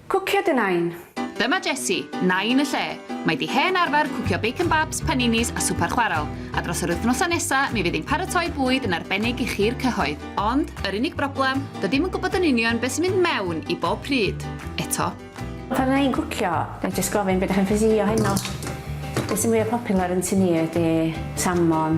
Cwcio dy Nain! Dyma Jessie, Nain y lle. Mae di hen arfer cwcio bacon babs, paninis a swper chwarel, a dros yr wythnosau nesa mi fydd hi'n paratoi bwyd yn arbennig i chi'r cyhoedd. Ond, yr unig broblem, dydi'm yn gwybod yn union be sy'n mynd mewn i bob pryd, eto. Pan fydda i'n cwcio, ga i jyst gofyn be dach chi'n ffysi o heno? Be sy'n fwya popular yn tŷ ni ydi salmon,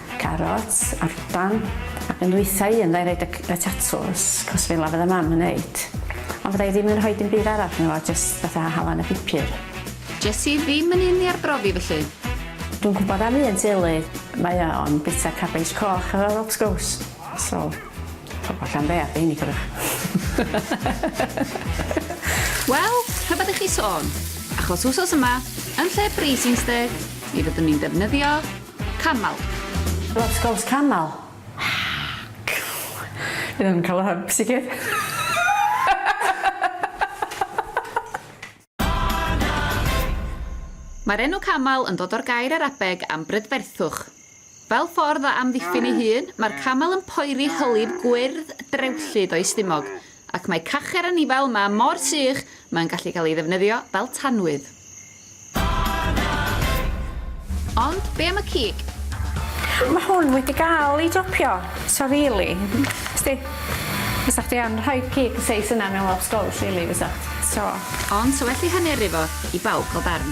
carots a'r ban ac yn ddwytha i un fyddai roid y tatws cos fela fydda mam yn neud ond fydda i ddim yn rhoi dim byd arall yno fo jyst fatha halan a pupur. Jes i ddim yn un i arbrofi felly. Dwi'n gwybod am un teulu mae o yn bita cabeis coch efo rob sgowws so pobol Llanbear dei ni cofiwch. Wel, rhyfedd i chi sôn, achos wsos yma, yn lle braising steak, mi fyddwn ni'n defnyddio Camel. Wrth gwrs camel. Fi ddim yn cael yr hyb, sicr. Mae'r enw camel yn dod o'r gair Arabeg am brydferthwch. Fel ffordd o amddiffyn ei hun, mae'r camel yn poeri hylif gwyrdd drewllyd o'i stumog, ac mae cacher anifail 'ma mor sych mae'n gallu cael ei ddefnyddio fel tanwydd. Ond be am y cig? Mae hwn wedi gael ei dopio. So rili, sdi, fysa chdi yn rhoi cig y seis yna mewn lobsgows rili fysa? So. Ond 'sa well i hanu yrru fo i bawb gael darn.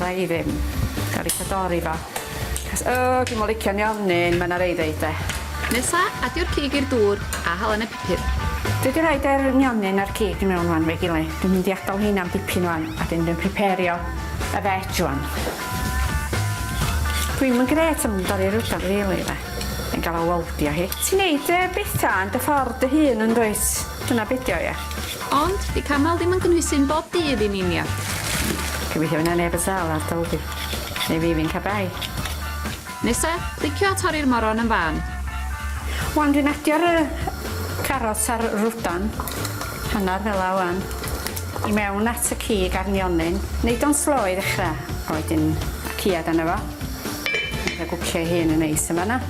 Rai ddim. Gael eitha dori fo. Cos, o, dwi'n mo licio'n ionyn, mae yna rei ddeud de. Nesa, adio'r cig i'r dŵr a hala yn y pupur. Dwi wedi rhoid yr nionyn a'r cig i mewn wan, fe'i gile. Dwi'n mynd i adal heina am dipyn wan, a dyn dwi'n priperio y veg wan. Dwi'm yn gret am dori rwdan rili de. Yn gael o weldio hi. Ti'n neud y betha yn dy ffordd dy hun yn dwyt? Dyna be' 'di o ia? Ond, 'di camel ddim yn gynhwysu'n bob dydd i ni Nia. Gobeithio fy' 'na neb yn sâl ar dy ol di. Neu fi fi'n ca bai. Nesa, clicio a torri'r moron yn fân. Wan dwi'n adio'r yy carots a'r rwdan, hannar fela wan, i mewn at y cig a'r nionyn. Neud o'n slo i ddechra, a wedyn y ciad arno fo. Mae o gwcio ei hun yn neis yn fan 'na.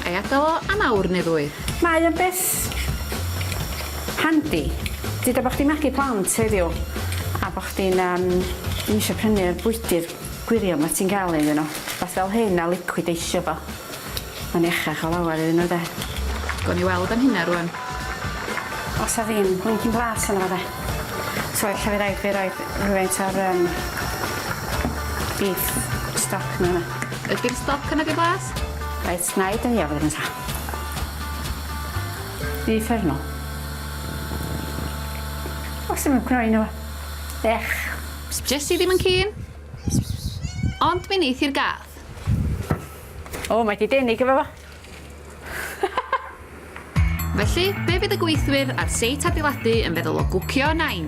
Ai adal o am awr neu ddwy? Mae o'n beth Handi! Duda bo' chdi'n magu plant heddiw a bo' chdi'n yym ddim isio prynu y bwydydd gwirion 'ma ti'n ga'l iddyn nhw. Wbath fel hyn a licwideisio fo. Mae'n iachach o lawer iddyn nhw 'de? Gawn ni weld am hynna rŵan. Os 'a ddim blincin blas yno fo 'de? So ella by' raid fi roid rhywfaint o'r yym beef stock 'ma yfe? Ydi'r stoc yna 'di blas? Reit 'nai dynnu o fan hyn ta. I uffernol. Os ddim yn cnoi yno fo. Ech. Jyst i ddim yn keen. Ond mi neith i'r gath. O, mae di denu gyda fo. Felly, be fydd y gweithwyr ar seit adeiladu yn feddwl o gwcio nain?